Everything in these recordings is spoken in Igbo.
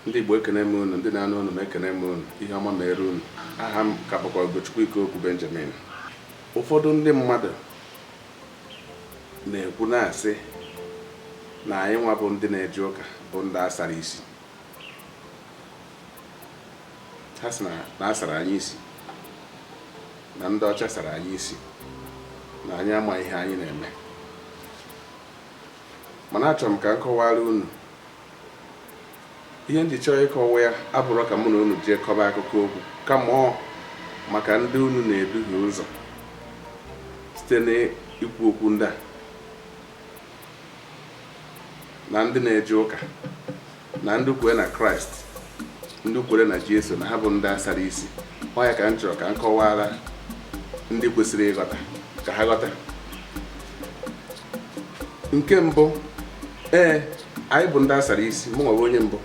Ndị Igbo ekene m unu, ndị na-anụ olu m ekene m unu, ihe ọma meere unu. Aha m ka bụkwa Ugochukwu Ikeokwu Benjamin. Ụfọdụ ndị mmadụ na-ekwu na-asị na anyị nwa bụ ndị na-eje ụka bụ ndị asara isi. Ha sị na na asara anyị isi, na ndị ọcha sara anyị isi, na anyị ama ihe anyị na-eme. Mana achọrọ m ka m kọwara unu ihe m ji chọọ ịkọwa ya abụrọ ka mụ na unu jee kọba akụkọ okwu kama ọ maka ndị unu na-eduhie ụzọ site n'ikwu okwu ndị a na ndị na-eje ụka na ndị kwere na kraịst ndị kwere na jesu na ha bụ ndị asara isi ọ ya ka m chọrọ ka m kọwara ndị kwesịrị ịghọta ka ha ghọta nke mbụ ee anyị bụ ndị asara isi mụ nwa wụ onye mbụ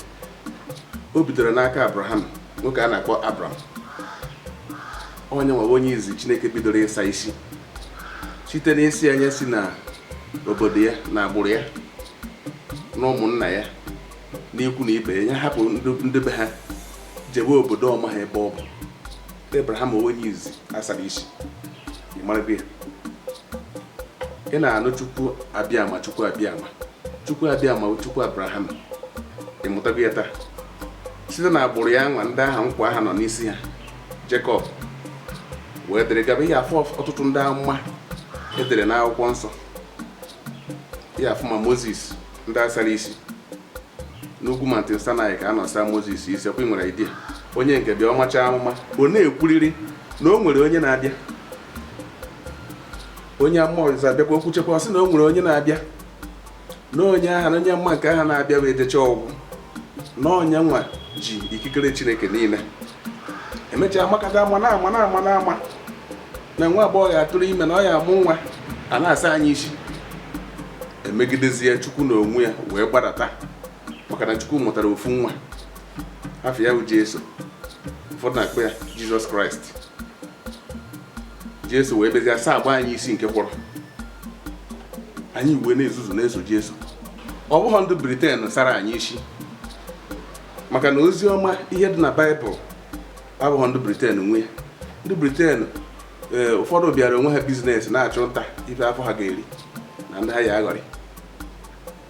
o bidoro n'aka abraham nwoke a na-akpọ abram ọ ya nwa wụ onye izi chineke bidoro ịsa isi site n'ịsị ya nya si na obodo ya na agbụrụ ya na ụmụnna ya n'ikwu na ibe ya hapụ ndị be ha jebe obodo ọ maha ebe ọ bụ Abraham ọ wụ onye izi asara isi ịmarago ya ị na-anụ Chukwu Abiama Chukwu Abiama Chukwu Abiama Chukwu Abraham ịmụtago ya taa site na agbụrụ ya nwa ndị aha nkwa aha nọ n'isi ha Jekọb wee dịrị gaba ị ya-afụ ọtụtụ ndị amụma edere n'akwụkwọ nsọ ya-afụ ma moses ndị asara isi n'ugwu mountain sinai ka a nọ saa moses isi ọkwa i nwere idea onye nke a bịa ọ macha amụma ọ na-ekwuriri na o nwere onye na-abịa onye amụma ọzọ bịakwa o kwuchakwa ọ sị na o nwere onye na-abịa na onye aha na onye amụma nke aha na-abịa bụ ejecha ọ gwụ na ọ ya nwa ji ikikere chineke niile emechaa makata amụma na-ama na-ama na-ama na nwa agbọghọ ya-atụrụ ime na ọ ya-amụ nwa a na-asa anyị isi emegidezie chukwu na onwe ya wee gbadata maka na chukwu mụtara ofu nwa afa ya bụ jesu ụfọdụ na-akpọ ya jizọs kraịst jesu wee bịazie sagbaa anyị isi nke kwọrọ anyị wee na-ezuzu na-eso jesu ọ bụghị ndị briten sara anyị isi maka na ozi ọma ihe dị na baịbụl abụghị ndị briten nwe ya ndị briten eh, ụfọdụ bịara onwe ha biznes na-achụ nta ife afọ ha ga-eri na ndị ha ya aghọrị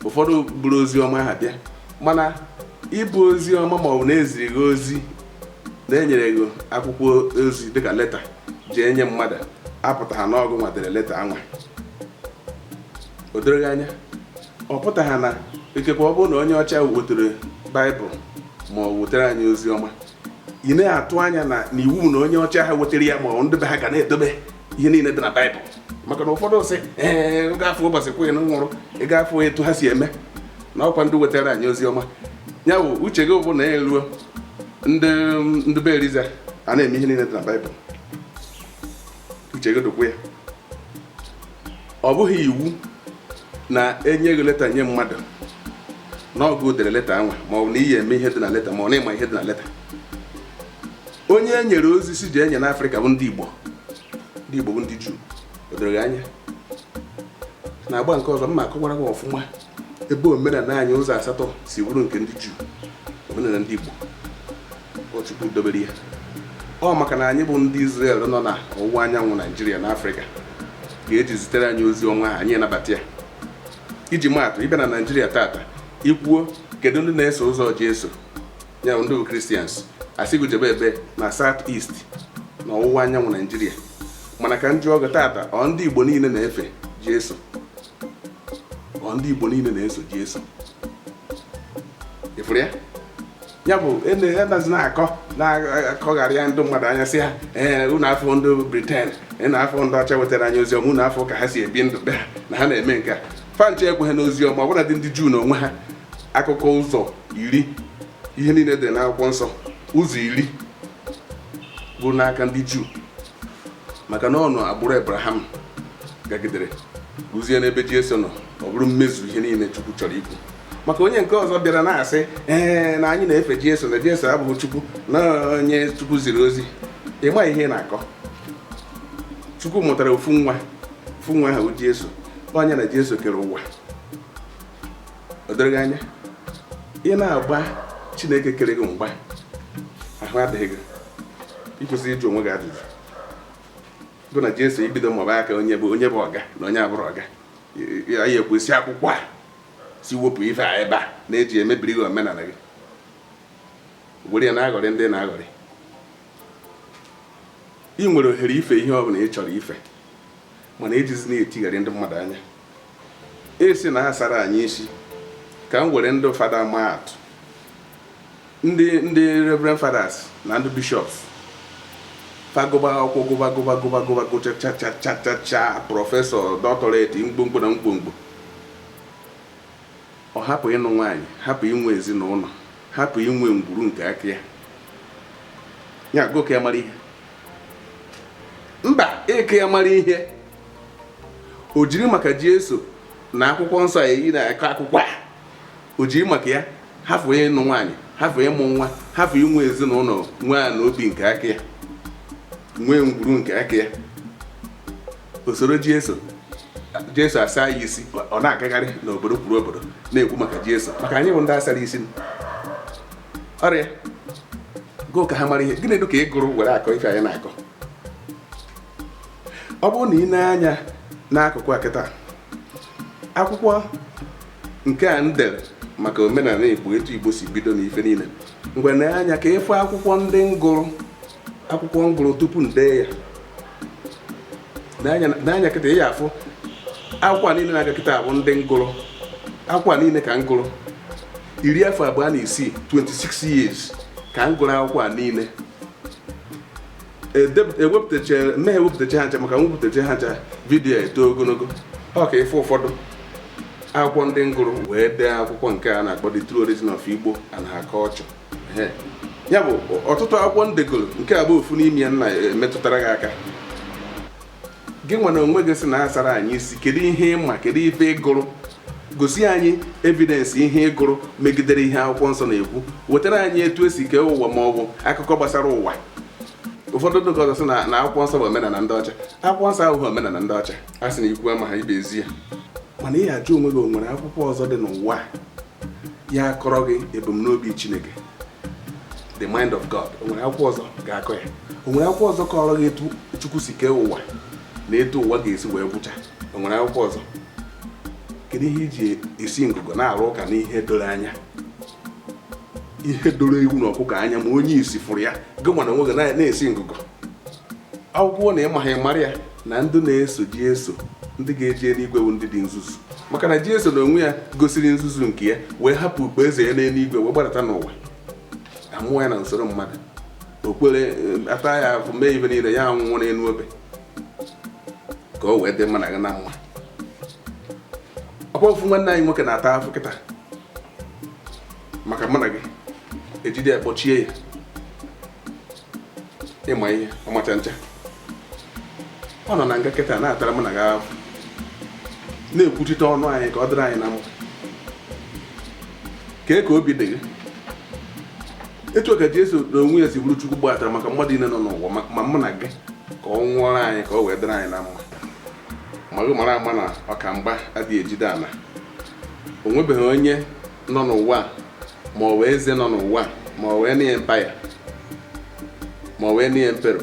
ụfọdụ buru ozi ọma ha bịa mana ibu ozi ọma ma ọ bụ na e ziri gị ozi na e nyere gị akwụkwọ ozi dịka leta jee nye mmadụ apụtaha na ọ gụnwa dere leta anwa o doro gị anya ọ pụtaha na ikekwe ọ bụrụ na onye ọcha wetara baịbụl ma ọ wetara anyị ozi ọma ị na-atụ anya na iwu na onye ọcha ha wetara ya ma ọ ndị be ha ga na-edobe ihe niile dị na baịbụl maka na ụfọdụ sị ee ị ga-afụ ụbọchị queen nwụrụ ị ga-afụ etu ha si eme na ọ kwa ndị wetara anyị ozi ọma ya bụ uche gị bụ na ya eruo ndị ndị be eliza a na-eme ihe niile dị na baịbụl uche gị dụkwa ya ọ bụghị iwu na e nye gị leta nye mmadụ na ọ gụ dere leta anwa ma ọ bụ na ị ya-eme ihe dị na leta ma ọ na ị ma ihe dị na leta onye e nyere ozi sị jee nye n'afrịka bụ ndị igbo ndị igbo bụ ndị juu o doro gị anya na agba nke ọzọ m ga-akọwara gị ọfụma ebe omenala anyị ụzọ asatọ si bụrụ nke ndị juu omenala ndị igbo Chukwu dobere ya ọ maka na anyị bụ ndị Izrel nọ na ọwụwa anyanwụ Naijiria na Afrịka ka e ji zitere anyị ozi ọnwa anyị anabata ya iji maatụ ị bịa na Naijiria tata i kwuo kedu ndị na-eso ụzọ Jesu ya ndị bụ Kristians a sị gị jebe ebe na South East na ọwụwa anyanwụ Naijiria mana ka m jụọ gị tata ọ ndị Igbo niile na-efe Jesu ọ ndị Igbo niile na-eso Jesu ị fụrụ ya ya bụ a nazị na-akọ na-akọgharị ndị mmadụ anya sị ha ee unu afụ ndị briten unu afụ ndị ọcha wetara anyị oziọma unu afụ ka ha si ebi ndụ be ha na ha na-eme nke a fa ncha ekweghị n'oziọma ọbụnadị ndị juu na onwe ha akụkọ ụzọ iri ihe niile dị n'akwụkwọ nsọ ụzọ iri bụ n'aka ndị juu maka na ọ n'agbụrụ ebraham gagidere ruzie n'ebe jesu nọ ọ bụrụ mmezu ihe niile Chukwu chọrọ ikwu maka onye nke ọzọ bịara na-asị ee na anyị na-efe Jesu na Jesu abụghị Chukwu na onye Chukwu ziri ozi ị ma ihe ị na-akọ Chukwu mụtara ofu nwa ofu nwa ahụ Jesu ọ nya na Jesu kere ụwa o doro gị anya ị na-agba Chineke kere gị mgba ahụ adịghị gị i kwesị ịjụ onwe gị ajụjụ gị na Jesu ibido maba aka onye bụ onye bụ ọga na onye abụrọ ọga ya ya ekwesị akwụkwọ a sị wepụ ife a ebe a na-eji emebiri gị omenala gị were ya na-aghọrị ndị na-aghọrị ị nwere ohere ife ihe ọ bụla ị chọrọ ife mana ejizina etigharị ndị mmadụ anya asị na a sara anyị isi ka m were ndị fada maa atụ ndị ndị reverend fathers na ndị bishops fa gụba akwụkwọ gụba gụba gụba gụba gụchachachachacha prọfesọ doctorate mkpomkpo na mkpomkpo ọ hapụ ịnụ nwaanyị hapụ inwe ezinụlọ hapụ inwe ngwuru nke aka ya ya gị ka ya mara ihe mba ị ka ya mara ihe o jiri maka Jesu na akwụkwọ nsọ a anyị na-akọ akụkọ ya o ji maka ya hafụ ịnụ nwaanyị hafụ ịmụ nwa hafụ inwe ezinụlọ nwee na obi nke aka ya nwee ngwuru nke aka ya o soro Jesu jesu asa ya isi ọ na-agagharị n'obodo kwuru obodo na-ekwu maka jesu maka anyị bụ ndị a sara isi oya gị ka ha mara ihe gịnị dị ka ị gụrụ were akọ ife anyị na-akọ ọ bụrụ na ị nee anya n'akụkụ a kịta akwụkwọ nke a m dere maka omenala igbo etu igbo si bido na ife niile ngwa nee anya ka ị fụ akwụkwọ ndị m gụrụ akwụkwọ m gụrụ tupu m dee ya nee anya kịta ị ya-afụ akwụkwọ niile na-aga kịta bụ ndị m gụrụ akwụkwọ niile ka m gụrụ iri afọ abụọ na isii 26 years ka m gụrụ akwụkwọ a niile ewepụtachaghị m ihe ewepụtacha ha ncha maka m wepụtacha ha ncha vidiyo a eto ogologo ọ ka ị fụ ụfọdụ akwụkwọ ndị m gụrụ wee dee akwụkwọ nke a na-akpọ The True Origin of Igbo and Her Culture ya bụ ọtụtụ akwụkwọ m degoro nke a bụ ofu n'ime ya m na-emetụtara gị aka gị nwa na onwe gị sị na a sara anyị isi kedu ihe ị ma kedu ife ị gụrụ gosi anyị evidence ihe ị gụrụ megidere ihe akwụkwọ nsọ na-ekwu wetara anyị etu e si kee ụwa ma ọ bụ akụkọ gbasara ụwa ụfọdụ ndị ọzọ sị na akwụkwọ nsọ bụ omenala ndị ọcha akwụkwọ nsọ abụghị omenala ndị ọcha a sị na ikwu amaha ibe ezi ya mana ị ya-ajụ onwe gị o nwere akwụkwọ ọzọ dị n'ụwa ya-akọrọ gị ebumnobi Chineke the mind of God o nwere akwụkwọ ọzọ ga-akọ ya o nwere akwụkwọ ọzọ kọrọ gị etu Chukwu si kee ụwa na etu ụwa ga-esi wee gwụcha o nwere akwụkwọ ọzọ kedu ihe i ji esi ngụgọ na-arụ ụka n'ihe doro anya ihe doro ewu na ọkụkọ anya ma onye isi fụrụ ya gị nwa na onwe gị na-esi ngụgọ ọ bụkwa na ị maghị mara ya na ndị na-eso Jesu ndị ga-eje eluigwe bụ ndị dị nzuzu maka na Jesu na onwe ya gosiri nzuzu nke ya wee hapụ ukpo eze ya n'eluigwe wee gbadata n'ụwa a mụọ ya na usoro mmadụ okpere eh, ata ya afụ mee ife niile ya anwụọ n'elu obe ka o wee dị mụ na gị na mma ọ kwa ofu nwanne anyị nwoke na-ata afụ kịta maka mụ na gị e jide ya kpọchie ya ị ma ihe ọmacha ncha ọ nọ na nga kịta na-atara m na gị ahụ na-ekwuchite ọnụ anyị ka ọ dịrị anyị na mma kee ka obi dị gị etu ka Jesu na onwe ya si bụrụ Chukwu gbatara maka mmadụ niile nọ n'ụwa ma mụ na gị ka ọ nwụọrọ anyị ka ọ wee dịrị anyị na mma ma gị mara ama na ọkamgba adịghị ejide ala o nwebeghị onye nọ n'ụwa ma ọ wụ eze nọ n'ụwa ma ọ wụ na empire ma ọ wụ na emperor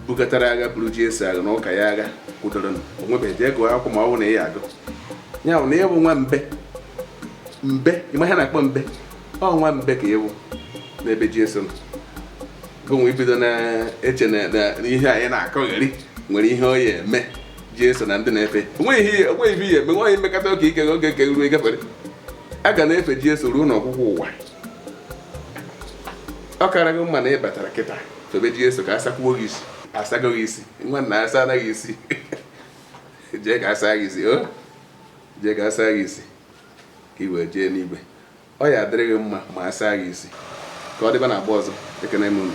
bukatara agha buru Jesu agha na ụka ya agha kwụdoro o nwebeghị jee gụọ akwụkwọ ma ọ bụ na ị ya agụ ya bụ na ị wụ nwa mbe mbe ị ma ihe na-akpọ mbe ọ nwa mbe ka ị wụ n'ebe Jesu nọ gụnwe ibido na-eche na ihe anyị na-akọgheri nwere ihe ọ ya eme Jesu na ndị na-efe o nweghị ihe o nweghị ihe eme nwaanyị mmekọta oke ike oge nke ruo ị gafere a ga na-efe Jesu ruo n'ọgwụgwụ ụwa ọ kara gị mma na ị batara kịta febe Jesu ka a sakwuo gị isi a sago gị isi nwa nna asa anaghị isi jee ka a saa gị isi o oh. jee ka a saa gị isi ka i wee jee n'igwe ọ ya adịrị gị mma ma a saa gị isi ka ọ dịba na agba ọzọ ekene m unu